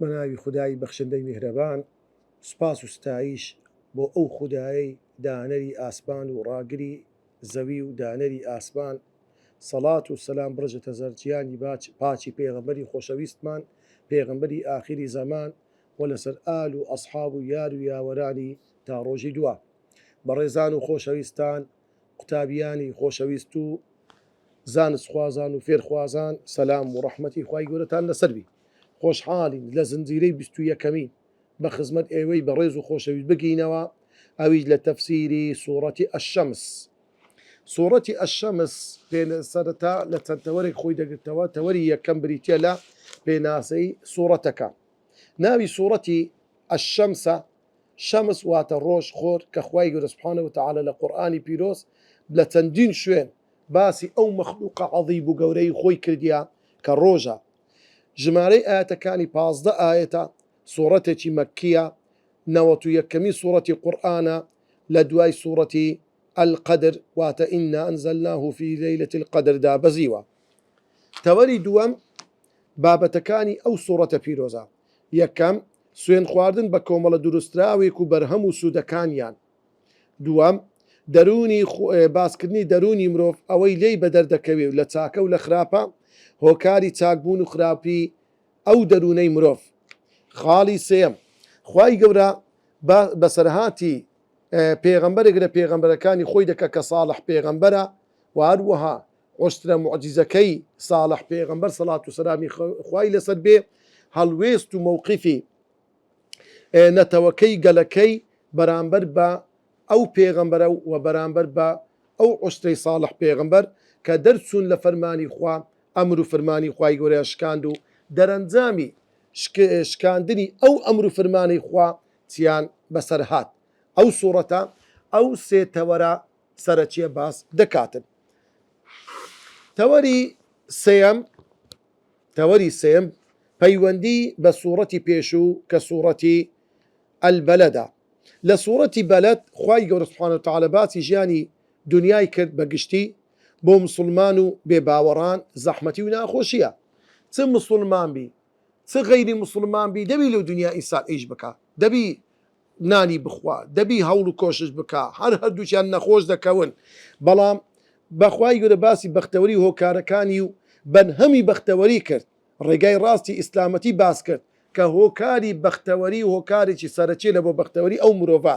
بەناوی خدای بەخشندەی میهرەبان سوپاس و ستایش بۆ ئەو خودایەی دانەری ئاسمان و ڕاگری زەوی و دانەری ئاسمان سەڵات و سەلام بڕژێتە زەر جیانی باچ پاچی پێغەمبەری خۆشەویستمان پێغەمبەری ئاخیری زەمان و لەسەر ئال و ئەسحاب و یار و یاوەرانی تا ڕۆژی دوا. بەڕێزان و خۆشەویستان قوتابیانی خۆشەویست و زانستخوازان و فێرخوازان سەلام و ڕەحمەتی خوای گەورەتان لەسەر بی. خۆشحاڵین لە زنجیرەی بیست و یەکەمین بە خزمەت ئێوەی بەڕێز و خۆشەویست بگەینەوە ئەویش لە تەفسیری سوڕەتی الشمس. سوڕەتی الشمس سەرەتا لە چەند تەوەرێک خۆی دەگرتەوە، تەوەری یەکەم بریتیە لە پێناسەی سوڕەتەکە. ناوی سورەتی، الشمس، ە، شەمس واتە ڕۆژ خۆر کە خوای گەورە سبحانە وتعالی لە قورئانی پیرۆز لە چەندین شوێن باسی ئەو مەخلوقە عەزیب و گەورەی خۆی کردیە کە ڕۆژە ژمارەی ئایەتەکانی پازدە ئایەتە سورەتێکی مەکیە نەوەت و یەکەمین سورەتی قورئانە لە دوای سورەتی، القدر، واتە، انا انزلناه فی لیلە القدر، دابەزیوە. تەوەری دووەم، بابەتەکانی ئەو سوڕەتە پیرۆزە، یەکەم، سوێن خواردن بە کۆمەڵە دروستراوێک و بەرهەم و سوودەکانیان، دووەم، دەروونی باسکردنی دەروونی مرۆڤ، ئەوەی لێی بەدەر دەکەوێ و لە چاکە و لە خراپە، هۆکاری چاک بوون و خراپی ئەو دەروونەی مرۆڤ. خاڵی سێیەم، خوای گەورە باس بەسەرهاتی پێغەمبەرێک لە پێغەمبەرەکانی خۆی دەکا کە ساڵح پێغەمبەرە و هەروەها حوسنە موعجیزەکەی ساڵح پێغەمبەر سەڵات و سەلامی خوای لەسەر بێ هەڵوێست و مەوقیفی نەتەوەکەی گەلەکەی بەرامبەر بە ئەو پێغەمبەرە و بەرامبەر بە ئەو عوسرەی ساڵح پێغەمبەر کە دەرچوون لە فەرمانی خوا ئەمر و فرمانی خوای گەورەیان شکاند و دەرەنجامی شکاندنی ئەو ئەمر و فرمانەی خوا چیان بەسەر هات ئەو سوڕەتە ئەو سێ تەوەرە سەرەکیە باس دەکاتن تەوەری سێیەم تەوەری سێم پەیوەندی بە سوڕەتی پێشوو کە سوڕەتی ئەلبەلەدا لە سوڕەتی بەلەد خوای گەورە سبحانە وتعالی باسی ژیانی دنیای کرد بە گشتی بۆ مسوڵمان و بێ باوەڕان زەحمەتی و ناخۆشیە چ مسوڵمان بی چ غەیری مسوڵمان بی دەبی لەو دنیا ئینسان ئیش بکا دەبی نانی بخوا دەبی هەوڵ و کۆشش بکا هەر هەردووکیان نەخۆش دەکەون بەڵام بەخوای گەورە باسی بەختەوەری و هۆکارەکانی و بەرهەمی بەختەوەری کرد ڕێگای ڕاستی ئیسلامەتی باس کرد کە هۆکاری بەختەوەری هۆکارێکی سەرەکیە لەبۆ بەختەوەری ئەو مرۆڤە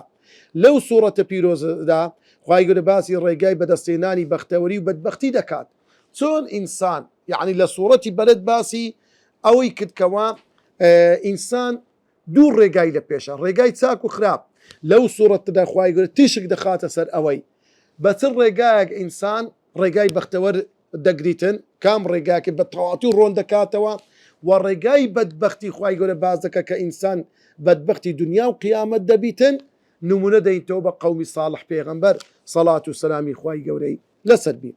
لەو سوڕەتە پیرۆزەدا خوای گەورە باسی ڕێگای بەدەستهێنانی بەختەوەری و بەدبەختی دەکات چۆن ئینسان یەعنی لە سوڕەتی بەلەد باسی ئەوەی کرد کەوا ئینسان دوو ڕێگای لە پێشە، ڕێگای چاک و خراپ، لەو سوڕەتەدا خوای گەورە تیشک دەخاتە سەر ئەوەی بە چ ڕێگایەک ئینسان ڕێگای بەختەوەر دەگریتن، کام ڕێگایەکە بە تەواوەتی ڕۆن دەکاتەوە و ڕێگای بەدبەختی خوای گەورە باس دەکات کە ئینسان بەدبەختی دونیا و قیامەت دەبیتن، نموونە دەینتەوە بە قەومی ساڵح پێغەمبەر سەڵات و سەلامی خوای گەورەی لەسەر بی.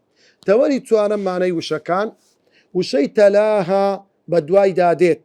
تەوەری چوارەم مانای وشەکان، وشەی تەلاها بە دوایدا دێت،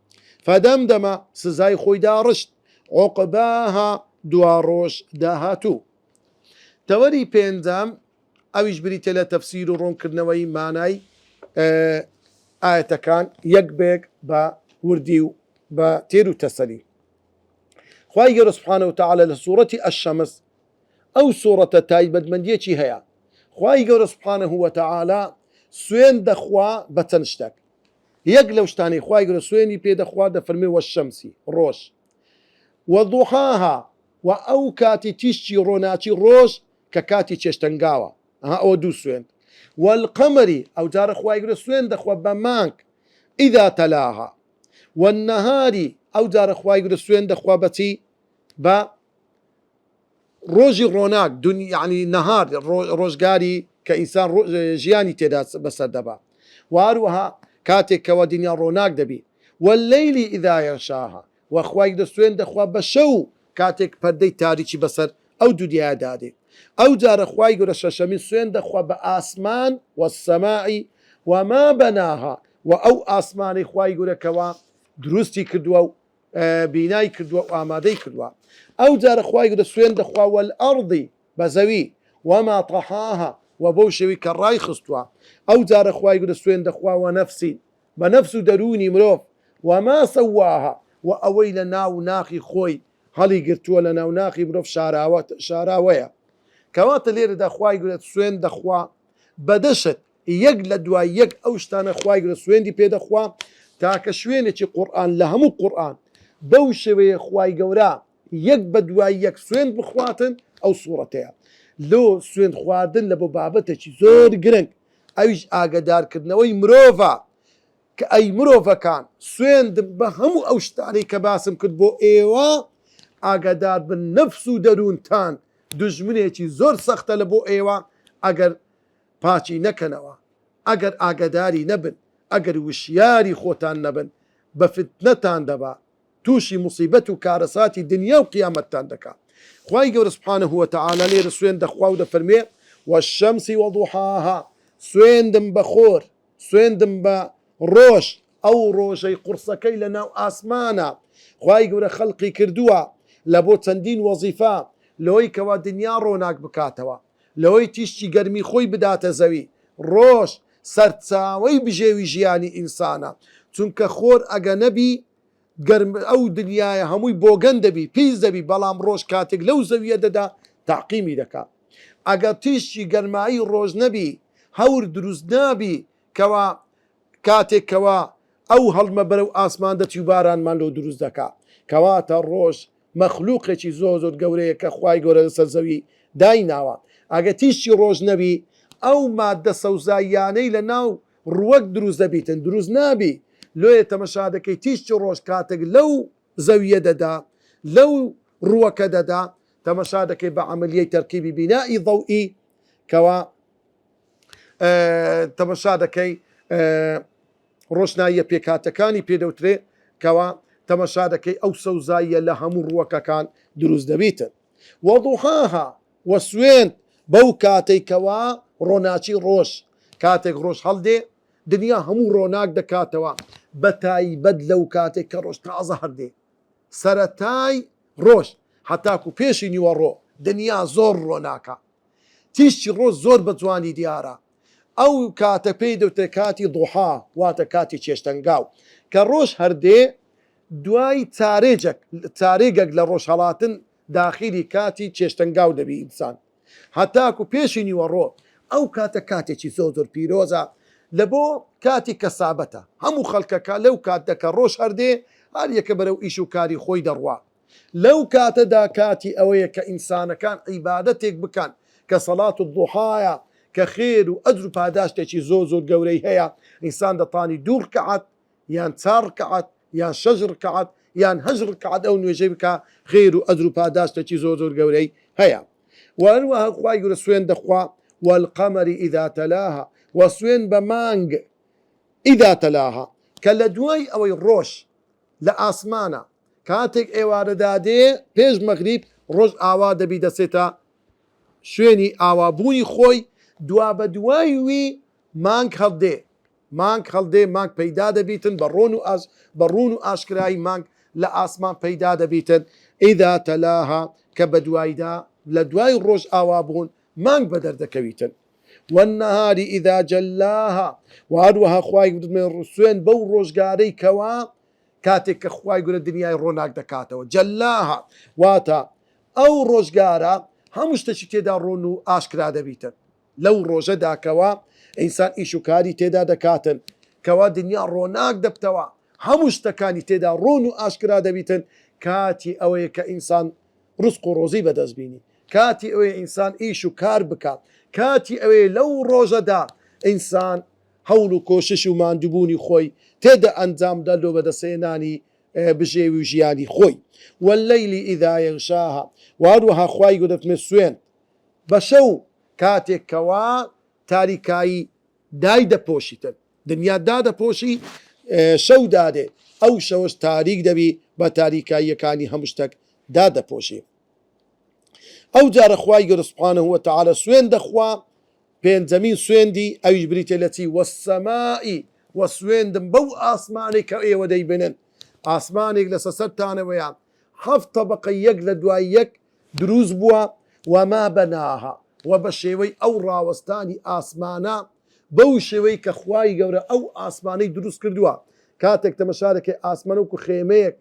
فدمدم سزای خۆی داڕشت عوقباها دواڕۆژ داهاتوو تەوەری پێنجەم ئەویش بریتە لە تەفسیر و ڕوونکردنەوەی مانای ئاەتەکان یەک بەیەک بە وردی و بە تێر و تەسەلی خوای گەورە سبحانە و تعالی لە سوورەتی ئەشەمس ئەو سوورەتە تایبەتمەندیەکی هەیە خوای گەورە سبحانە هو تعالی سوێن دەخوا بە چەند شتێک یەک لەو شتانەی خوای گەورە سوێنی پێ دەخوات دەفەرموێ وەشەمسی، ڕۆژ، وەضحاها، و ئەو کاتی تیشکی ڕۆناکی ڕۆژ کە کاتی چێشتەنگاوە، ئەها ئەوە دوو سوێند، والقمری، ئەوجارە خوای گەورە سوێن دەخوا بە مانگ، اذا تلاها، والنهاری، ئەوجارە خوای گەورە سوێن دەخوا بە چی؟ بە. ڕۆژی ڕۆناک، دونی یەعنی نەهار، ڕۆ ڕۆژگاری کە ئینسان ڕۆ ژیانی تێدا بەسەر دەبا و هەروەها کاتێک کەوا دنیا ڕۆناک دەبی. واللیلی اذا یغشاها، و خوای گەورە سوێند دەخوا بە شەو کاتێک پەردەی تاریکی بەسەر ئەو دنیایە دادێ. ئەو جارە خوای گەورە شەشەمین سوێند دەخوا بە ئاسمان، والسماء وما بناها، و ئەو ئاسمانەی خوای گەورە کەوا دروستی کردوە و بینای کردووە و ئامادەی کردووە ئەو جارە خوای گەورە سوێند دەخوا والارض بە زەوی وما طحاها وە بەو شێوەی کە ڕای خستووە ئەو جارە خوای گەورە سوێند دەخوا ونفس بە نەفس و دەروونی مرۆڤ وما سواها وە ئەوەی لە ناو ناخی خۆی هەڵی گرتووە لە ناو ناخی مرۆڤ شاراوە شاراوەیە کەواتە لێرەدا خوای گەورە سوێند دەخوا بە دە شت یەک لە دوای یەک ئەو شتانە خوای گەورە سوێندی پێ دەخوا تاکە شوێنێکی قورئان لە هەموو قورئان بەو شێوەیە خوای گەورە یەک بە دوای یەک سوێند بخواتن ئەو سوڕەتەیە لۆ سوێند خواردن لە بۆ بابەتێکی زۆر گرنگ ئەویش ئاگەدار کردنەوەی مرۆڤە کە ئەی مرۆڤەکان سوێندم بە هەموو ئەو شتانەی کە باسم کرد بۆ ئێوە ئاگادار بن نەفس و دەروونتان دوژمنێکی زۆر سەختە لە بۆ ئێوە ئەگەر پاکی نەکەنەوە ئەگەر ئاگەداری نەبن ئەگەر وشیاری خۆتان نەبن بە فتنەتان دەبا توشی موسیبەت و کارەساتی دنیا و قیامەتتان دەکا خوای گەورە سبحانە وتعالی لێرە سوێند دەخوا و دەفەرموێ والشمس وضحاها سوێندم بە خۆر سوێندم بە ڕۆژ ئەو ڕۆژەی قوڕسەکەی لە ناو ئاسمانە خوای گەورە خەلقی کردووە لە بۆ چەندین وەزیفە لەوەی کەوا دنیا ڕۆناک بکاتەوە. لەوەی تیشکی گەرمی خۆی بداتە زەوی، ڕۆژ سەرچاوەی بژێوی ژیانی ئینسانە، چونکە خۆر ئەگە نەبی گەرم ئەو دنیایە هەمووی بۆگەن دەبی، پیس دەبی، بەڵام ڕۆژ کاتێک لەو زەویە دەدا تاقیمی دەکا، ئەگە تیشکی گەرمایی ڕۆژ نەبی هەور دروست نابی کەوا کاتێک کەوا ئەو هەڵمە بەرەو ئاسمان دەچی و بارانمان لۆ دروست دەکا. کەواتە ڕۆژ مەخلوقێکی زۆر زۆر گەورەیە کە خوای گەورە لەسەر زەوی دایناوە. ئەگەر تیشکی ڕۆژ نەبی ئەو ماددە سەوزاییانەی لە ناو ڕووەک دروست دەبیتن دروست نابی. لۆیە تەمەشا دەکەی تیشکی ڕۆژ کاتێک لەو زەوییە دەدا لەو ڕووەکە دەدا تەمەشا دەکەی بە عەمەلیەی تەرکیبی بینائی ضوئی کەوا تەمەشا دەکەی ڕۆشناییە پێکهاتەکانی پێ دەوترێ کەوا تەمەشا دەکەی ئەو سەوزاییە لە هەموو ڕووەکەکان دروست دەبیتن وەضحاها و سوێند بەو کاتەی کەوا ڕۆناچی ڕۆژ کاتێک ڕۆژ هەڵدێ دنیا هەموو ڕۆناک دەکاتەوە بە تایبەت لەو کاتێک کە ڕۆژ تازە هەردێ سەرەتای ڕۆژ هەتاکو پێشی نیوەڕۆ دنیا زۆر ڕۆناکە تیشکی ڕۆژ زۆر بە جوانی دیارە. ئەو کاتە پێی دەوترێت کاتی ضحا واتە کاتی چێشتەنگاو. کە ڕۆژ هەر دێ دوای چارێجەک چارێگەک لە ڕۆژ هەڵاتن داخیلی کاتی چێشتەنگاو دەبی ئینسان هەتاکو پێشی نیوەڕۆ. ئەو کاتە کاتێکی زۆر زۆر پیرۆزە لە بۆ کاتی کەسابەتە. هەموو خەڵکەکە لەو کاتە کە ڕۆژ هەر دێ هەر یەکە بەرەو ئیش و کاری خۆی دەڕوا. لەو کاتەدا کاتی ئەوەیە کە ئینسانەکان عیبادەتێک بکەن کە سەڵات الضحایە کە خێر و ئەجر و پاداشتێکی زۆر زۆر گەورەی هەیە، ئینسان دەتانی دوو ڕکەعەت یان چار ڕکەعەت یان شەش ڕکەعەت یان هەشت ڕکەعەت ئەو نوێژەی بکا خێر و ئەجر و پاداشتێکی زۆر زۆر گەورەی هەیە و هەروەها خوای گەورە سوێن دەخوا والقمر اذا تلاها وە سوێن بە مانگ اذا تلاها کە لە دوای ئەوەی ڕۆژ لە ئاسمانە کاتێک ئێوارە دادێ پێش مەغریب ڕۆژ ئاوا دەبی دەچێتە شوێنی ئاوا بوونی خۆی دوابەدوای وی مانگ هەڵدێ مانگ هەڵدێ مانگ پەیدا دەبیتن بە ڕۆن و ئاش بە ڕوون و ئاشکرایی مانگ لە ئاسمان پەیدا دەبیتن ئیدا تەلاها کە بەدوایدا لە دوای ڕۆژ ئاوا بوون مانگ بە دەر دەکەویتن. والنهار اذا جلاها و هەروەها خوای گەورە دەڵێ سوێند بەو ڕۆژگارەی کەوا کاتێک کە خوای گەورە دنیای ڕۆناک دەکاتەوە جلاها واتە ئەو ڕۆژگارە هەموو شتەکی تێدا ڕۆن و ئاشکرا دەبیتن لەو ڕۆژەدا کەوا ئینسان ئیش و کاری تێدا دەکاتن کەوا دنیا ڕۆناک دەبتەوە هەموو شتەکانی تێدا ڕۆن و ئاشکرا دەبیتن کاتی ئەوەیە کە ئینسان ڕزق و ڕۆزی بەدەست بینی کاتی ئەوەیە ئینسان ئیش و کار بکات، کاتی ئەوەیە لەو ڕۆژەدا ئینسان هەوڵ و کۆشش و ماندووبوونی خۆی تێدا ئەنجام بدات لۆ بەدەستهێنانی بژێوی و ژیانی خۆی، واللیل اذا یغشاها، و هەروەها خوای گەورە دەفەرموێت سوێند بە شەو کاتێک کەوا تاریکایی دایدەپۆشیتن، دنیا دادەپۆشی شەو دادێت، ئەو شەوەش تاریک دەبی بە تاریکاییەکانی هەموو شتەک دادەپۆشی. ئەو جارە خوای گەورە سبحانە وتعالی سوێند دەخوا پێنجەمین سوێندی ئەویش بریتیە لە چی والسمائی وە سوێندم بەو ئاسمانەی کە ئێوە دەیبنن ئاسمانێک لەسە سەرتانەوەیە حەفت تەبەقەی یەک لە دوای یەک دروست بووە وما بناها وە بە شێوەی ئەو ڕاوەستانی ئاسمانە بەو شێوەی کە خوای گەورە ئەو ئاسمانەی دروست کردووە کاتێک تەمەشا دەکەی ئاسمان وەکو خێمەیەک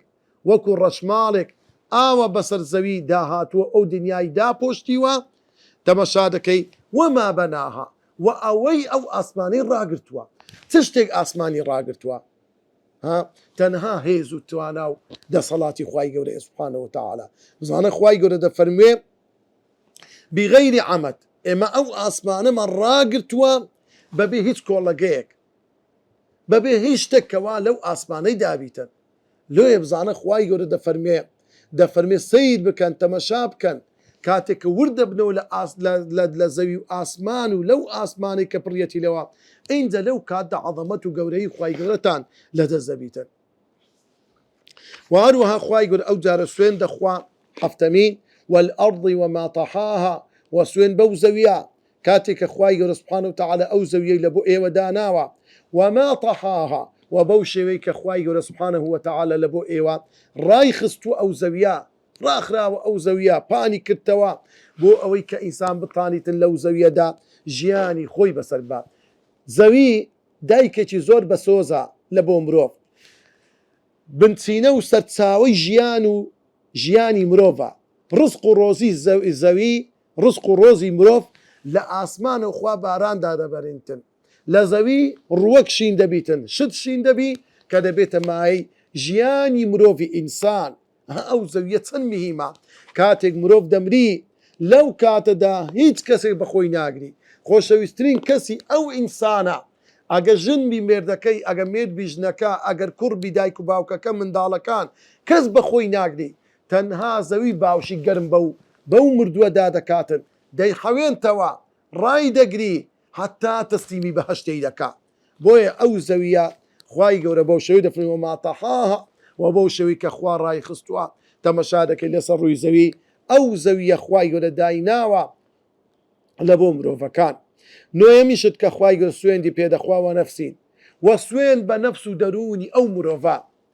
وەکو ڕەشماڵێک ئاوە بەسەر زەوی داهاتووە ئەو دنیای داپۆشتیوە تەمەشادەکەی، وما بناها، وە ئەوەی ئەو ئاسمانەی ڕاگرتووە چ شتێک ئاسمانی ڕاگرتووە ها تەنها هێز و توانا و دەسەڵاتی خوای گەورەیە سبحانە وتعالی بزانە خوای گەورە دەفەرموێ بغیر عمد ئێمە ئەو ئاسمانەمان ڕاگرتووە بەبێ هیچ کۆڵەگەیەک بەبێ هیچ شتێک کەوا لەو ئاسمانەی دابیتن لۆیێ بزانە خوای گەورە دەفەرموێ دەفەرموێ سەیر بکەن تەمەشا بکەن کاتێ کە ورد دەبنەوە لە ئاس لە لە لە زەوی و ئاسمان و لەو ئاسمانەی کە پڕیەتی لەوە ئینجا لەو کاتدا عەزەمەت و گەورەیی خوای گەورەتان لەدەست دەبیتن وە هەروەها خوای گەورە ئەو جارە سوێن دەخوا، حەفتەمین، والارض وما طحاها، وە سوێن بەو زەویە کاتێ کە خوای گەورە سبحانە وتعالی ئەو زەویەی لە بۆ ئێوە داناوە، وما طحاها، وە بەو شێوەی کە خوای گەورە سبحانە وتعالی لە بۆ ئێوە ڕایخستووە ئەو زەویە، ڕاخراوە ئەو زەویە، پانی کردتەوە، بۆ ئەوەی کە ئینسان بتانیتن لەو زەویەدا ژیانی خۆی بەسەر ببات. زەوی دایکێکی زۆر بەسۆزە لە بۆ مرۆڤ. بنچینە و سەرچاوەی ژیان و ژیانی مرۆڤە. ڕزق و ڕۆزی زەوی، ڕزق و ڕۆزی مرۆڤ لە ئاسمانەو خوا باران دادەبەرینتن. لە زەوی ڕووەک شین دەبیتن، شت شین دەبی کە دەبێتە مایەی ژیانی مرۆڤی ئینسان. ئەها ئەو زەویە چەند مهیمە کاتێک مرۆڤ دەمری لەو کاتەدا هیچ کەسێک بەخۆی ناگری خۆشەویسترین کەسی ئەو ئینسانە ئەگەر ژن بی مێردەکەی ئەگەر مێرد بی ژنەکە ئەگەر کوڕ بی دایک و باوکەکە منداڵەکان کەس بەخۆی ناگری تەنها زەوی باوشی گەرم بەو بەو مردوە دادەکاتن دەیحەوێنتەوە ڕایدەگری هەتا تەسلیمی بەهەشتەی دەکات. بۆیە ئەو زەوییە خوای گەورە بەو شێوەی دەفەرموێ وما طحاها وە بەو شێوەی کە خوا ڕایخستووە تەمەشا دەکەی لەسەر ڕووی زەوی ئەو زەوییە خوای گەورە دایناوە لە بۆ مرۆڤەکان نۆیەمین شت کە خوای گەورە سوێندی پێ دەخوا وە نەفسین وە سوێند بە نەفس و دەروونی ئەو مرۆڤە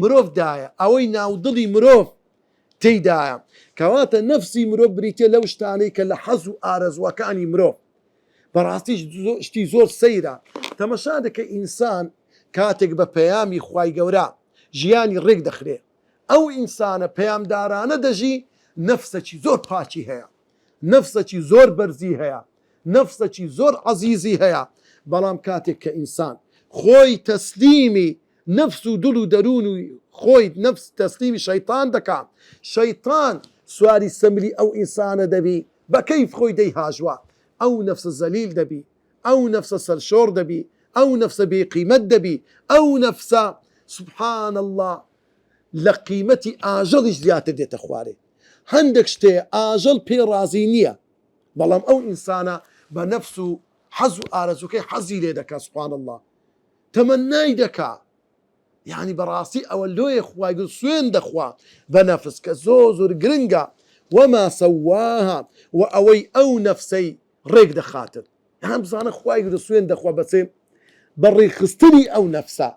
مرۆڤ دایە، ئەوەی ناودڵی مرۆڤ تێیدایە، کەواتە نەفسی مرۆڤ بریتیە لەو شتانەی کە لە حەز و ئارەزوەکانی مرۆڤ، بەڕاستیش شتی زۆر سەیرە تەمەشا دەکەی ئینسان کاتێک بە پەیامی خوای گەورە ژیانی ڕێک دەخرێ ئەو ئینسانە پەیامدارانە دەژی نەفسەکی زۆر پاکی هەیە نەفسەکی زۆر بەرزی هەیە نەفسەکی زۆر عەزیزی هەیە بەڵام کاتێک کە ئینسان خۆی تەسلیمی نەفس و دل و دەروونی خۆی نەفس تەسلیمی شەیتان دەکا شەیتان سواری سەمری ئەو ئینسانە دەبی بە کەیف خۆی دەی هاژوا ئەو نەفسە زەلیل دەبی ئەو نەفسە سەرشۆڕ دەبی ئەو نەفسە بێ قیمەت دەبی ئەو نەفسە سبحان اللە لە قیمەتی ئاژەڵیش زیاتر دێتە خوارێ هەندێک شتێ ئاژەڵ پێ ڕازی نییە بەڵام ئەو ئینسانە بە نەفس و حەز و ئارەزووکەی حەزی لێ دەکا سبحان اللە تەمەنای دەکا یانی بەڕاستی ئەوە لۆیە خوای گل سوێند دەخوا بە نەفس کە زۆر زۆر گرنگە وما سواها وە ئەوەی ئەو نەفسەی ڕێک دەخاتن یان بزانە خوای گل سوێند دەخوا بە چێ بە ڕێکخستنی ئەو نەفسە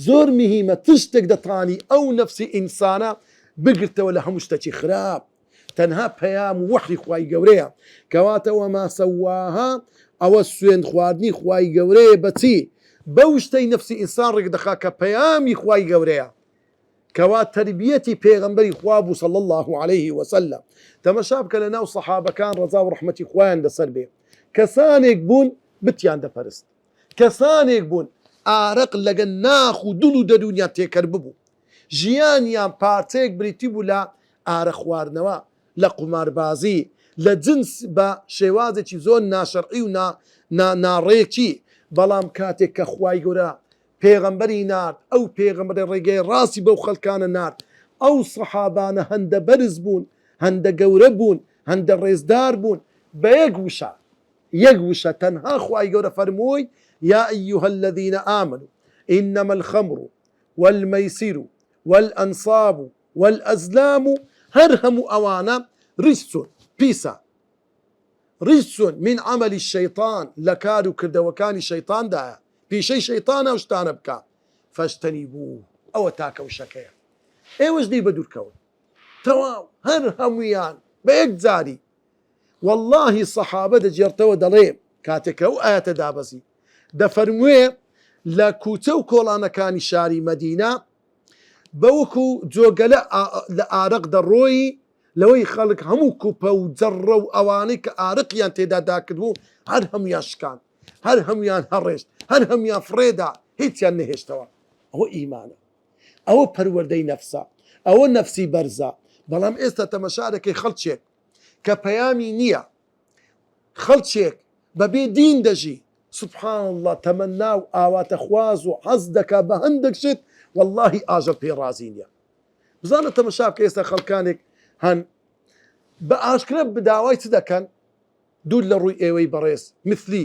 زۆر مهیمە چ شتێک دەتانی ئەو نەفسی ئینسانە بگرتەوە لە هەموو شتەکی خراپ. تەنها پەیام وەحی خوای گەورەیە کەواتە وما سواها ئەوە سوێند خواردنی خوای گەورەیە بە چی؟ بەو شتەی نەفسی ئینسان ڕێک دەخا کە پەیامی خوای گەورەیە کەوا تەربیەتی پێغەمبەری خوا بوو صلی اللە علیه وسلم تەمەشا بکە لەناو سەحابەکان ڕەزا و ڕەحمەتی خوایان لەسەر بێ کەسانێک بوون بتیان دەپەرست کەسانێک بوون ئارەق لەگەل ناخ و دڵ و دەروونیان تێکەل ببوو. ژیانیان پارچەیەک بریتی بوو لە ئارەق خواردنەوە، لە قوماربازی، لە جنس بە شێوازێکی زۆر ناشەرعی و ناڕێکی، بەڵام کاتێک کە خوای گەورە پێغەمبەری نارد، ئەو پێغەمبەرە ڕێگای ڕاستی بەو خەلکانە نارد، ئەو سەحابانە هەندە بەرز بوون، هەندە گەورە بوون، هەندە ڕێزدار بوون، بە یەک وشە. یەک وشە تەنها خوای گەورە فەرمووی، یا ایها الذین آمنوا انما الخمر والمیسر والانصاب والازلام هەر هەموو ئەوانە رجس پیسە رجس من عمل الشیطان لە کار و کردەوەکانی شەیطاندایە پیشەی شەیطانە ئەو شتانە بکە فاجتنبوه ئەوە تاکە وشەکەیە ئێوەش لێی بەدوورکەون تەواو هەر هەموویان بە یەکجاری وەڵڵاهی سەحابە دەگێڕتەوە دەڵێ کاتێ کە ئەو ئایەتە دابەزی دەفەرموێ لە کوچە و کۆڵانەکانی شاری مەدینە بەوەکو جۆگەلە لە ئارەق دەڕۆیی لەوەی خەڵک هەموو کوپە و جەڕڕە و ئەوانەی کە ئارەقیان تێدا داکردبوو هەر هەمویان شکان هەر هەمویان هەڕێشت هەر هەمویان فڕێدا هیچیان نەهێشتەوە ئەوە ئیمانە ئەوە پەروەردەی نەفسە ئەوە نەفسی بەرزە بەڵام ئێستا تەمەشادەکەی خەڵکێک کە پەیامی نییە خەڵکێک بەبێ دین دەژی سبحان اللە تەمەنا و ئاواتە خواز و حەز دەکا بە هەندێک شت واللهی ئاژەڵ پێی ڕازی نییە بزانە تەمەشا بکە ئێستا خەڵکانێک هەن بە ئاشکرا بداوای چ دەکەن دوور لە ڕووی ئێوەی بەڕێز مثلی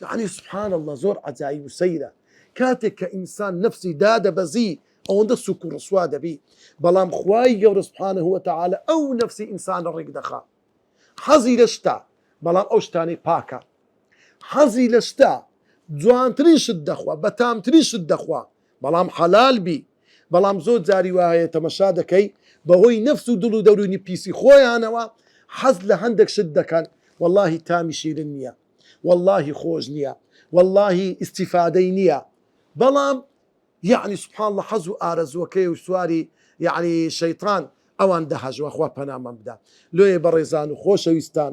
یەعنی سبحان اللە زۆر عەجایب و سەیرە کاتێک کە ئینسان نەفسی دادەبەزی ئەوەندە سوک و ڕسوا دەبی بەڵام خوای گەورە سبحانە وتعالی ئەو نەفسی ئینسانە ڕێک دەخا حەزی لە شتە بەڵام ئەو شتانەی پاکە حەزی لە شتە جوانترین شت دەخوا بەتامترین شت دەخوا بەڵام حەلال بی بەڵام زۆر جاری وا هەیە تەمەشا دەکەی بەهۆی نەفس و دڵ و دەروونی پیسی خۆیانەوە حەز لە هەندێک شت دەکەن وەڵاهی تامی شیرن نیە وەڵاهی خۆش نیە وەڵاهی ئیستیفادەی نیە بەڵام یەعنی سبحان اللە حەز و ئارەزووەکەی و سواری یەعنی شەیتان ئەوان دەهەژوا خوا پەنامان بدا لۆیێ بەڕێزان و خۆشەویستان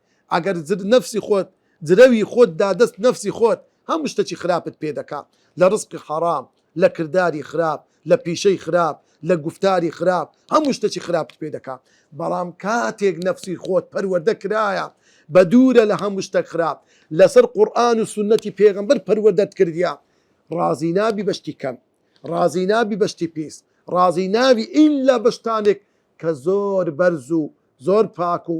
ئەگەر جر نەفسی خۆت جرەوی خۆت دا دەست نەفسی خۆت هەموو شتەکی خراپت پێ دەکا لە ڕزقی حەڕام لە کرداری خراپ لە پیشەی خراپ لە گوفتاری خراپ هەموو شتەکی خراپت پێ دەکا بەڵام کاتێک نەفسی خۆت پەروەردە کرایە بە دوورە لە هەموو شتەک خراپ لەسەر قورئان و سوننەتی پێغەمبەر پەروەردەت کردیە ڕازی نابی بە شتی کەم ڕازی نابی بە شتی پیس ڕازی نابی ئیلا بە شتانێک کە زۆر بەرز و زۆر پاک و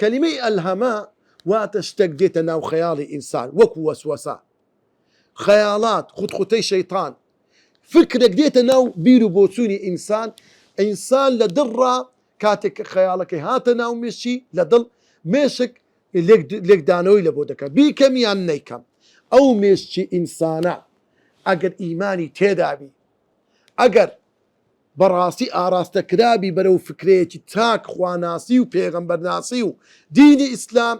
کەلیمەی ئەلهەمە واتە شتەک دێتە ناو خەیاڵی ئینسان وەکو وەسوەسە، خەیاڵات، خوتخوتەی شەیتان، فکرێک دێتە ناو بیر و بۆچوونی ئینسان، ئینسان لە دڵڕا کاتێک کە خەیاڵەکەی هاتە ناو مێشکی لە دڵ مێشک لێکدانەوەی لەبۆ دەکات بیکەم یان نەیکەم، ئەو مێشکی ئینسانە ئەگەر ئیمانی تێدابی ئەگەر. بەڕاستی ئاراستە کرابی بەرەو فکرەیەکی تاک خواناسی و پێغەمبەر ناسی و دینی ئیسلام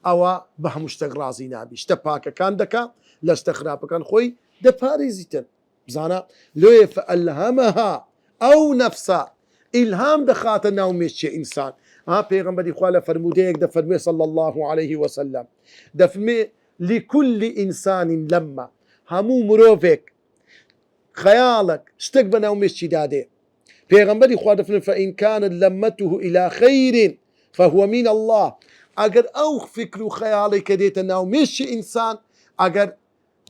ئەوا بە هەموو شتەک ڕازی نابی شتە پاکەکان دەکا لە شتە خراپەکان خۆی دەپاریزیتن بزانە لۆیە فەئەلهەمەها ئەو نەفسە ئیلهام دەخاتە ناو مێشکی ئینسان ها پێغەمبەری خوا لە فەرموودەیەک دەفەرموێ صلی اللە علیه وسلم دەفەرمێ لکل انسان لمە هەموو مرۆڤێک خەیاڵەک شتەک بە ناو مێشکی دا دێ. پێغەمبەری خوا دەفەرمێ فان کانت لمته الی خیر فهو من اللە، ئەگەر ئەو فکر و خەیاڵەی کە دێتە ناو مێشکی ئینسان ئەگەر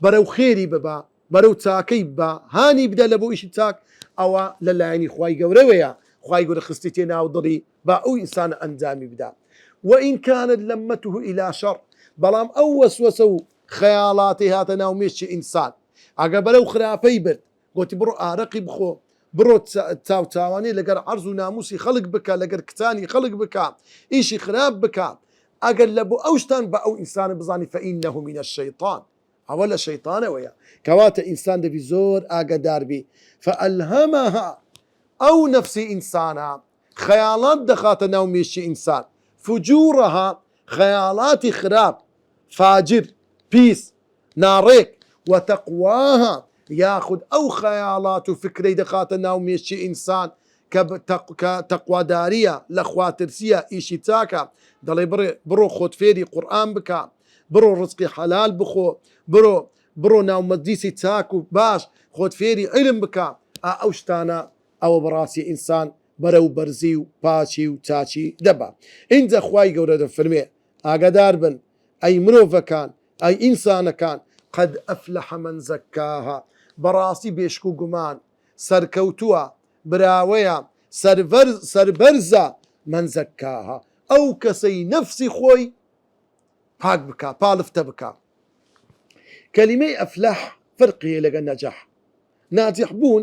بەرەو خێری ببا، بەرەو چاکەی ببا، هانی بدا لە بۆ ئیشی چاک، ئەوە لە لایەنی خوای گەورەوەیە، خوای گەورە خستیتیە ناو دڵی با ئەو ئینسانە ئەنجامی بدا. وان کانت لمته الی شر، بەڵام ئەو وەسوەسە و خەیاڵاتی هاتە ناو مێشکی ئینسان، ئەگەر بەرەو خراپەی برد، گۆتی بڕۆ ئارەقی بخۆ، بڕۆ چاوچاوانی لەگەر عەرز و ناموسی خەڵک بکە، لەگەر کچانی خەڵک بکە، ئیشی خراپ بکە، ئەگەر لە بۆ ئەو شتان بە ئەو ئینسانە بزانی فەئینەهو من الشیطان، ئەوە لە شەیتانەوەیە، کەواتە ئینسان دەبی زۆر ئاگەدار بی، فەئەلهەمەها، ئەو نەفسی ئینسانە خەیاڵات دەخاتە ناو مێشکی ئینسان، فجورها، خەیاڵاتی خراپ، فاجر، پیس، ناڕێک، وتقواها، یاخود ئەو خەیاڵات و فکرەی دەخاتە ناو مێشکی ئینسان کە کە تەقواداریە، لە خوا ترسیە، ئیشی چاکە، دەڵێ بڕێ بڕۆ خۆت فێری قورئان بکە، بڕۆ ڕزقی حەلال بخۆ، بڕۆ بڕۆ ناو مەجلیسی چاک و باش، خۆت فێری عیلم بکە، ئا ئەو شتانە ئەوە بەڕاستی ئینسان بەرەو بەرزی و پاکی و چاکی دەبا ئینجا خوای گەورە دەفەرموێ ئاگادار بن ئەی مرۆڤەکان ئەی ئینسانەکان قد افلح من زکاها بەڕاستی بێشک و گومان سەرکەوتوە براوەیە سەربەرزە من زکاها ئەو کەسەی نەفسی خۆی پاک بکا پالفتە بکا کەلیمەی افلح فەرقی هەیە لەگەل نجح. ناجیح بوون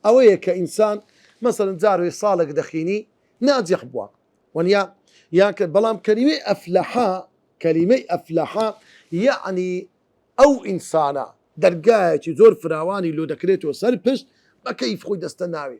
ئەوەیە کە ئینسان مەسەلەن جارێ ساڵێک دەخینی ناجیح بووە وەنیا یان کە بەڵام کەلیمەی ئەفلەحە کەلیمەی ئەفلەحە یەعنی ئەو ئینسانە دەرگایەکی زۆر فراوانی لۆ دەکرێتەوە سەر پشت بە کەیف خۆی دەستە ناوێ.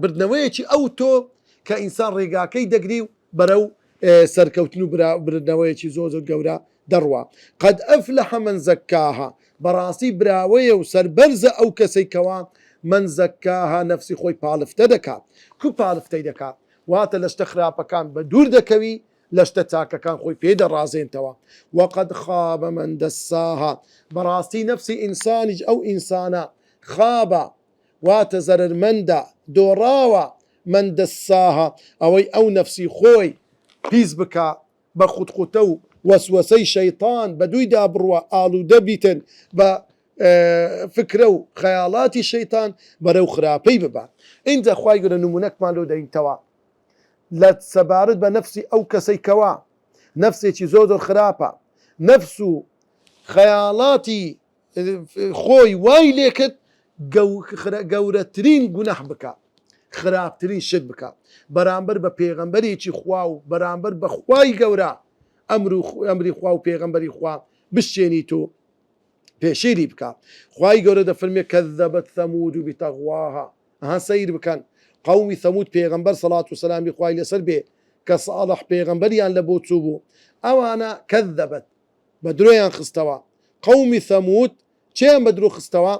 بردنەوەیەکی ئەوتۆ کە ئینسان ڕێگاکەی دەگری و بەرەو سەرکەوتن و بردنەوەیەکی زۆر زۆر گەورە دەڕوا قەد ئەفلەح من زەکاها بەڕاستی براوەیە و سەربەرزە ئەو کەسەی کەوا من زەکاها نەفسی خۆی پاڵفتە دەکات کو پاڵفتەی دەکات واتە لە شتە خراپەکان بە دوور دەکەوی لە شتە چاکەکان خۆی پێ دەڕازێنتەوە وەقەد خابە من دەساها بەڕاستی نەفسی ئینسانیش ئەو ئینسانە خابە واتە زەرەرمەندە، دۆڕاوە، من دساها، ئەوەی ئەو نەفسی خۆی پیس بکا بە خوتخوتە و وەسوەسەی شەیتان بەدوویدا بڕوا ئاڵوودە بیتن بە فکرە و خەیاڵاتی شەیتان بەرەو خراپەی ببا ئینجا خوای گەورە نموونەکمان لۆ دەینتەوە لە سەبارەت بە نەفسی ئەو کەسەی کەوا نەفسێکی زۆر زۆر خراپە نەفس و خەیاڵاتی خۆی وای لێکرد گەورەترین گوناح بکا خراپترین شت بکا بەرامبەر بە پێغەمبەرێکی خوا و بەرامبەر بە خوای گەورە ئەمر و ئەمری خوا و پێغەمبەری خوا بشتێنیت و پێشێلی بکا خوای گەورە دەفەرمێ کەذەبەت ثەمود بتەغواها ها سەیر بکەن قومی ثەمود پێغەمبەر سەڵات و سەلامی خوای لەسەر بێ کە ساڵح پێغەمبەریان لە بۆ چوو بوو ئەوانە کەذەبەت بە درۆیان خستەوە قومی ثمود چیان بە درۆ خستەوە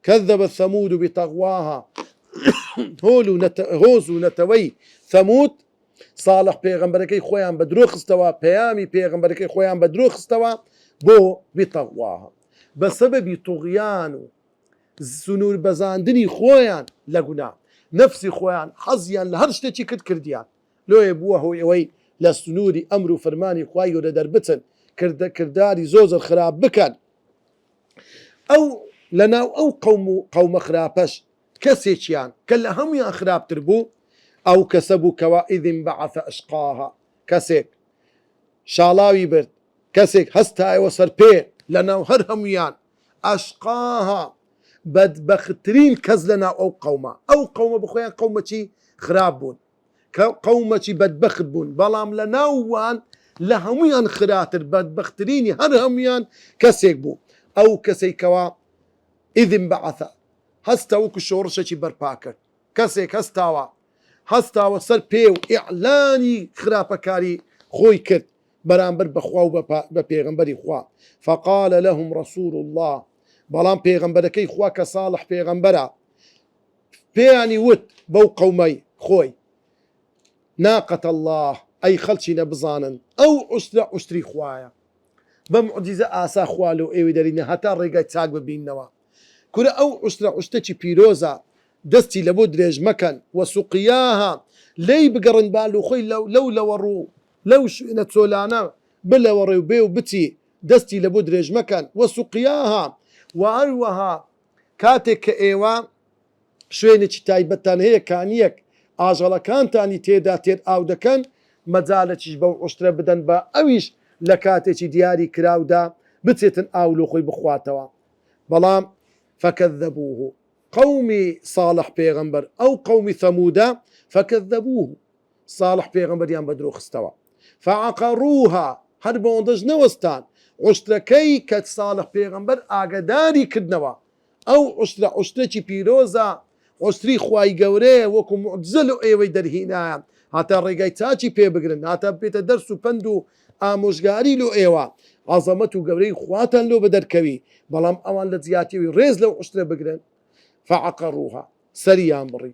کذبت ثمود بطغواها هۆل و هۆز و نەتەوەی ثمود صالح پێغەمبەرەکەی خۆیان بە درۆ خستەوە پەیامی پێغەمبەرەکەی خۆیان بە درۆ خستەوە بۆ بطغواها بە سەبەبی طغیان و سنوور بەزاندنی خۆیان لە گونا نەفسی خۆیان حەزیان لە هەر شتێکی کرد کردیان لۆیە بووە هۆی ئەوەی لە سنووری ئەمر و فرمانی خوای گەورە دەربچن کردە کرداری زۆر زۆر خراپ بکەن ئەو لە ناو ئەو قەوم و قەومە خراپەش کەسێکیان کە لە هەموویان خراپتر بوو ئەو کەسە بوو کەوا اذ انبعث اشقاها کەسێک شاڵاوی برد کەسێک هەستایەوە سەر پێ لە ناو هەر هەموویان اشقاها بەدبەختترین کەس لە ناو ئەو قەومە ئەو قەومە بە خۆیان قەومەکی خراپ بوون. کە قەومەکی بەدبەخت بوون، بەڵام لە ناو وان لە هەموویان خراتر بەدبەخترینی هەر هەموویان کەسێک بوو، ئەو کەسەی کەوا، اذ انبعث، هەستا وەکو شۆڕشەکی بەرپا کرد، کەسێک هەستاوە، هەستاوە سەر پێ و ئیعلانی خراپەکاری خۆی کرد بەرامبەر بە خوا و بە پێغەمبەری خوا، فقال لهم رسول اللە، بەڵام پێغەمبەرەکەی خوا کە صالح پێغەمبەرە، پێیانی وت بەو قەومەی خۆی، ناقەت اللە، ئەی خەڵکینە بزانن ئەو عوشترە عوشتری خوایە، بە موعجیزە ئاسا خوا لۆ ئێوەی دەلینە هەتا ڕێگای چاک ببیننەوە، کورە ئەو عوشترە عوشتەکی پیرۆزە، دەستی لەبۆ درێژ مەکەن، وسقیاها، لێی بگەڕێن با لۆ خۆی لەو لەوەڕ و لەو شوێنە چۆلانە بلەوەڕێ و بێ و بچی، دەستی لەبۆ درێژ مەکەن، وسقیاها، وهەروەها کاتێک کە ئێوە شوێنێکی تایبەتتان هەیە کانییەک ئاژەڵەکانتانی تێدا تێر ئاو دەکەن، مەجالەکیش بەو عوشترە بدەن با ئەویش لە کاتێکی دیاری کراودا بچێتن ئاو لۆ خۆی بخواتەوە. بەڵام، فکذبوه، قەومی صاڵح پێغەمبەر، ئەو قەومی ثمودە، فکذبوه، ساڵح پێغەمبەریان بە درۆ خستەوە فعقروها هەر بەوەندەش نەوەستان عوشترەکەی کە ساڵح پێغەمبەر ئاگەداری کردنەوە ئەو عوشترە عوشترێکی پیرۆزە عوشتری خوای گەورەیە وەکو موعجزە لۆ ئێوەی دەرهینایە هاتا ڕێگای چاکی پێ بگرن هاتا ببێتە دەرس و پەند و ئامۆژگاری لۆ ئێوە عەزەمەت و گەورەی خواتان لۆ بەدەر کەوی بەڵام ئەوان لە جیاتی ئەوی ڕێز لەو عوشترە بگرن فعقروها سەریان بڕی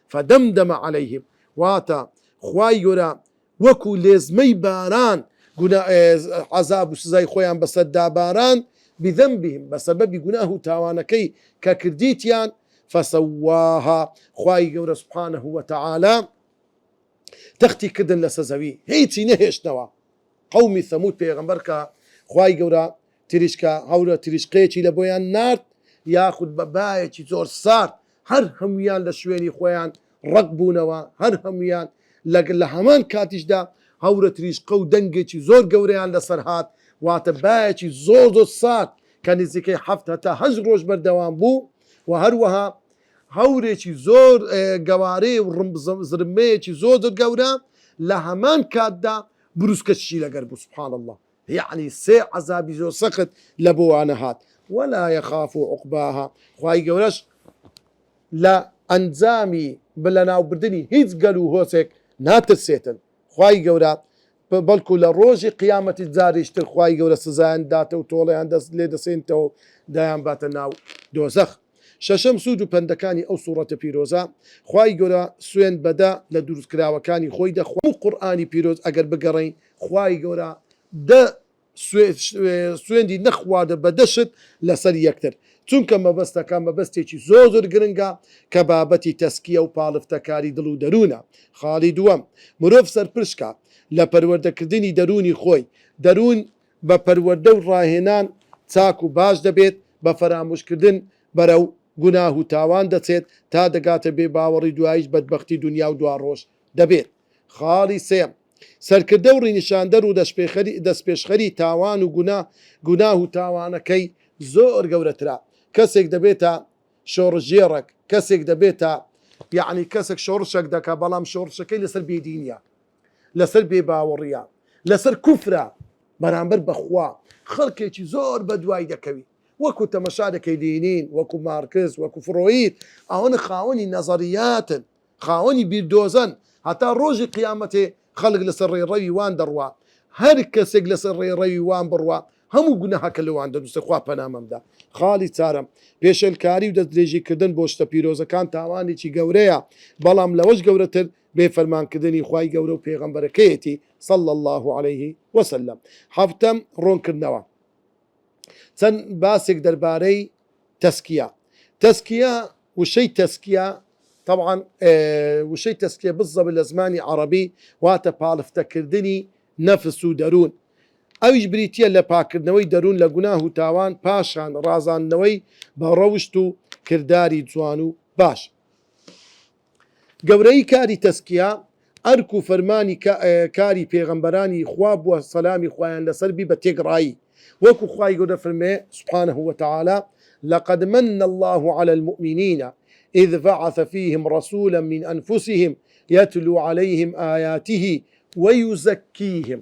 فدمدم علیهم واتە، خوای گەورە وەکو لێزمەی باران گونا عەزاب و سزای خۆیان بەسەر داباراند، بذنبهم بەسەبەبی گوناه و تاوانەکەی کە کردیتیان، فسواها خوای گەورە سبحانە وتعالی تەختی کردن لەسە زەوی هیچی نەهێشتەوە، قەومی ثمود پێغەمبەر کە خوای گەورە تریشکە هەورە تریشقەیەکی لە بۆیان نارد یاخود بە بایەکی زۆر سارد، هەر هەموویان لە شوێنی خۆیان ڕەق بوونەوە، هەر هەموویان لە لە هەمان کاتیشدا هەورە تریشقە و دەنگێکی زۆر گەورەیان لە سەر هات، واتە بایەکی زۆر زۆر سارد کە نزیکەی حەفت هەتا هەشت ڕۆژ بەردەوام بوو و هەروەها هەورێکی زۆر گەوارەی و ڕمب زرمبەیەکی زۆر زۆر گەورە لە هەمان کاتدا بروسکەشی لەگەر بوو سبحان اللە. یەعنی سێ عەزابی زۆر سەخت لەبۆوانە هات ولا یخاف عقباها خوای گەورەش لە ئەنجامی لەناوبردنی هیچ گەل و هۆزێک ناترسێتن خوای گەورە بەڵکو لە ڕۆژی قیامەتیش جاریش تر خوای گەورە سزایان دەداتە و تۆڵەیان لێدەسێنێتەوە و دەیانباتە ناو دۆزەخ. شەشەم سوود و پەندەکانی ئەو سوڕەتە پیرۆزە، خوای گەورە سوێند بە دە لە دروستکراوەکانی خۆی دەخوات، هەموو قورئانی پیرۆز ئەگەر بگەڕێین خوای گەورە دە سوێندی نە خوارد بە دە شت لە سەر یەکتر چونکە مەبەستە کە مە بەستێکی زۆر زۆر گرنگە کە بابەتی تەسکیە و پاڵفتە کاری دڵ و دەرونە خاڵی دووەم مرۆڤ سەرپشکە لە پەروەردە کردنی دەرونی خۆی دەرون بە پەروەردە و ڕاهێنان چاک و باش دەبێت بە فەراموش کردن بەرەو گوناه و تاوان دەچێت تا دەگاتە بێ باوەڕی دوایش بەدبەختی دونیا و دواڕۆژ دەبێت خاڵی سێیەم سەرکردە و ڕینیشاندەر و دەستپێشخەری تاوان و گونا، گوناه و تاوانەکەی زۆر گەورەترە، کەسێک دەبێتە شۆڕشگێڕەک، کەسێک دەبێتە یەعنی کەسەک شۆڕشەک دەکا بەڵام شۆڕشەکەی لەسەر بێدینیە، لەسەر بێ باوەڕیە، لەسەر کوفرە بەرامبەر بە خوا، خەڵکێکی زۆر بەدوای دەکەوی وەکو تەمەشا دەکەی لینین، وەکو مارکس، وەکو فرۆید ئەوانە خاوەنی نەزەریاتن، خاوەنی بیردۆزەن هەتا ڕۆژی قیامەتێ خەڵک لەسەر ڕێڕەوی وان دەڕوا هەر کەسێک لەسەر ڕێڕەوی وان بڕوا هەموو گوناهەکە لۆوان دەنووسێ خوا پەنامەم دا خاڵی چارەم پێشێلکاری و دەست درێژی کردن بۆ شتە پیرۆزەکان تاوانێکی گەورەیە بەڵام لەوەش گەورەتر بێ فەرمان کردنی خوای گەورە و پێغەمبەرەکەیەتی صلی اللە علیه وسلم حەڤتەم ڕۆنکردنەوە چەند باسێک دەربارەی تەسکیە تەسکیە وشەی تەسکیە تەبعەن وشەی تەسکیە بززەبە لە زمانی عەڕەبی واتە پاڵفتە کردنی نەفس و دەروون ئەویش بریتیە لە پاکردنەوەی دەروون لە گوناه و تاوان پاشان ڕازاندنەوەی بە ڕەوشت و کرداری جوان و باش. گەورەیی کاری تەزکیە، ئەرک و فەرمانی کاری پێغەمبەرانی خوا بووە سەلامی خوایان لەسەر بی بە تێکڕایی، وەکو خوای گەورە دەفەرموێ سبحانە وتعالی، لقد من اللە علی المومنین اذ بعث فیهم رسولا من انفسهم یتلو علیهم آیاته ویزکیهم.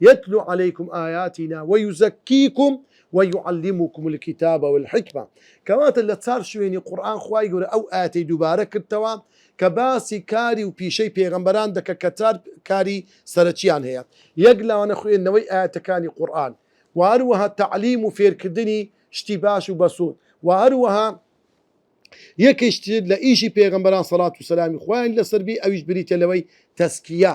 یتلو علیکم آیاتنا ویزکیکم ویعلمکم الکتاب والحکمە کەواتە لە چار شوێنی قورئان خوای گەورە ئەو ئایەتەی دووبارە کردتەوە کە باسی کاری و پیشەی پێغەمبەران دەکە کە چار کاری سەرەکیان هەیە یەک لەوانە خوێندنەوەی ئایەتەکانی قورئان وە هەروەها تەعلیم و فێرکردنی شتی باش و بەسود وە هەروەها یەکیش تر لە ئیشی پێغەمبەران سەڵات و سەلامی خوایان لەسەر بی ئەویش بریتە لەوەی تەسکیە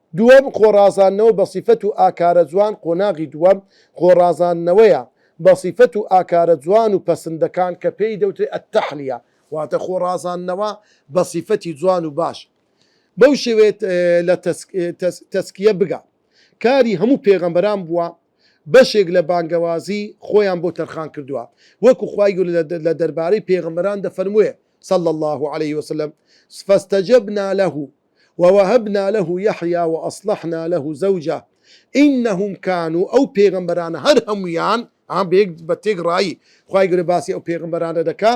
دووەم، خۆڕازاندنەوە بە سیفەت و ئاکارە جوان قۆناغی دووەم، خۆڕازاندنەوەیە بە سیفەت و ئاکارە جوان و پەسندەکان کە پێی دەوترێت التحلیە، واتە خۆڕازاندنەوە بە سیفەتی جوان و باش بەو شێوەیە لە تەزکیە بگا کاری هەموو پێغەمبەران بووە بەشێک لە بانگەوازی خۆیان بۆ تەرخان کردووە وەکو خوای گەورە لە دەربارەی پێغەمبەران دەفەرمووێت صلی اللە علیه وسلم فاستجبنا له ووهبنا له یحیی وأصلحنا له زوجه انهم کانو ئەو پێغەمبەرانە هەر هەموویان ها بە یەک بە تێکڕایی خوای گەورە باسی ئەو پێغەمبەرانە دەکا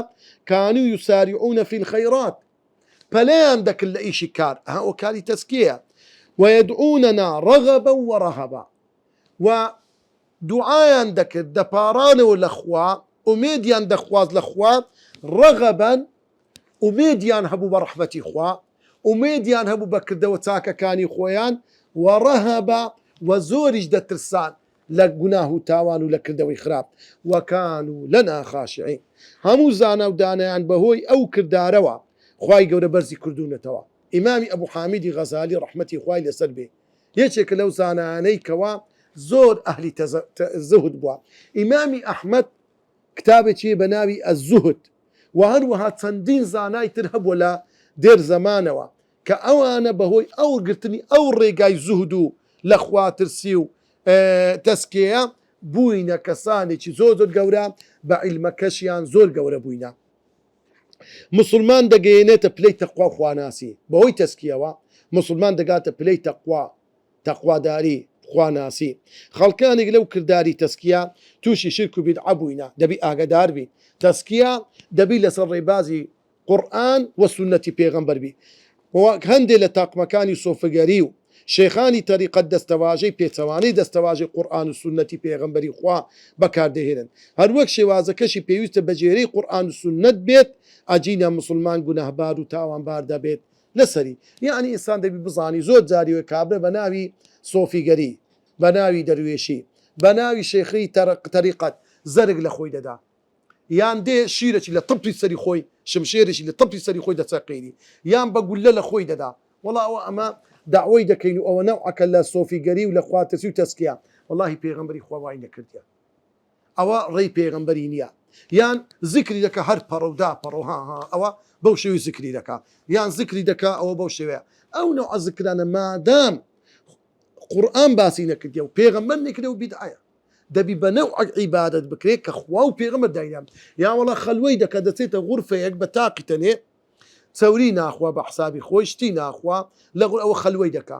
کانو یساریعون فی الخیرات پەلەیان دەکرد لە ئیشی کار ها ئەوە کاری تەزکیەیە ویدعوننا رغبا ورهبا و دوعایان دەکرد دەپاڕانەوە لە خوا ئومێدیان دەخواست لە خوا رغبا ئومێدیان هەبوو بە ڕەحمەتی خوا، ئومێدیان هەبوو بە کردەوە چاکەکانی خۆیان، وەڕەهەبە، و زۆریش دەترسان لە گوناه و تاوان و لە کردەوەی خراپ، وەکانو لەنا خاشعین، هەموو زانا و دانایان بەهۆی ئەو کردارەوە خوای گەورە بەرزی کردوونەتەوە، ئیمامی ئەبو حامیدی غەزالی ڕەحمەتی خوای لەسەر بێ یەکێکە لەو زانایانەی کەوا زۆر ئەهلی زوهد بووە، ئیمامی ئەحمەد کتابێکی بە ناوی الزهد و هەروەها چەندین زانای تر هەبووە لە دێر زەمانەوە کە ئەوانە بە هۆی ئەوەگرتنی ئەو ڕێگای زوهد و لە خواترسی و تەسکێیە بووینە کەسانێکی زۆر زۆر گەورە بە عیلمەکەشیان زۆر گەورە بووینە موسڵمان دەگەیەنێتە پلەی تەقوا و خواناسی بە هۆی تەسکیەوە موسڵمان دەگاتە پلەی تەقوا تەقواداری، خواناسی، خەڵکانێک لەو کرداری تەزکیە تووشی شیرک و بیدعە بووینە، دەبی ئاگەدار بی، تەزکیە دەبی لەسەر ڕێبازی قورئان و سوننەتی پێغەمبەر بی، وەک هەندێ لە تاقمەکانی سۆفگەری و شێخانی تەریقەت دەستەواژەی پێچەوانەی دەستەواژەی قورئان و سوننەتی پێغەمبەری خوا بەکار دەهێنن، هەروەک شێوازەکەشی پێویستە بەگوێرەی قورئان و سوننەت بێت، ئەگینا موسڵمان گوناهبار و تاوانبار دەبێت، لەسەری یەعنی ئینسان دەبی بزانی زۆر جاری وایە کابرا بە ناوی سۆفیگەری بە ناوی دەروێشی بە ناوی شێخی تەرق تەریقەت زەرگ لە خۆی دەدا یان دێ شیرەکی لە تەپی سەری خۆی شمشێرێکی لە تەپی سەری خۆی دەچەقێنی یان بە گوللە لە خۆی دەدا وەڵا ئەوە ئەمە دەعوەی دەکەین و ئەوە نەوعەکە لە سۆفیگەری و لە خواترسی و تەسکیە وەڵاهی پێغەمبەری خوا وای نەکردیە. ئەوە ڕێی پێغەمبەری نیە یان زیکری دەکا هەر پەڕە و داپەڕە و ها ها ئەوە بەو شێوەی زیکری دەکا یان زیکری دەکا ئەوە بەو شێوەیە ئەو نەوعە زیکرانە مادام قورئان باسی نەکردیە و پێغەمبەر نەیکردە و بیدعەیە دەبی بە نەوعەک عیبادەت بکرێ کە خوا و پێغەمبەر داینان یا وەڵا خەلوەی دەکا دەچێتە غورفەیەک بە تاقی تەنێ چەوری ناخوا بە حسابی خۆی شتی ناخوا لە غور ئەوە خەلوەی دەکا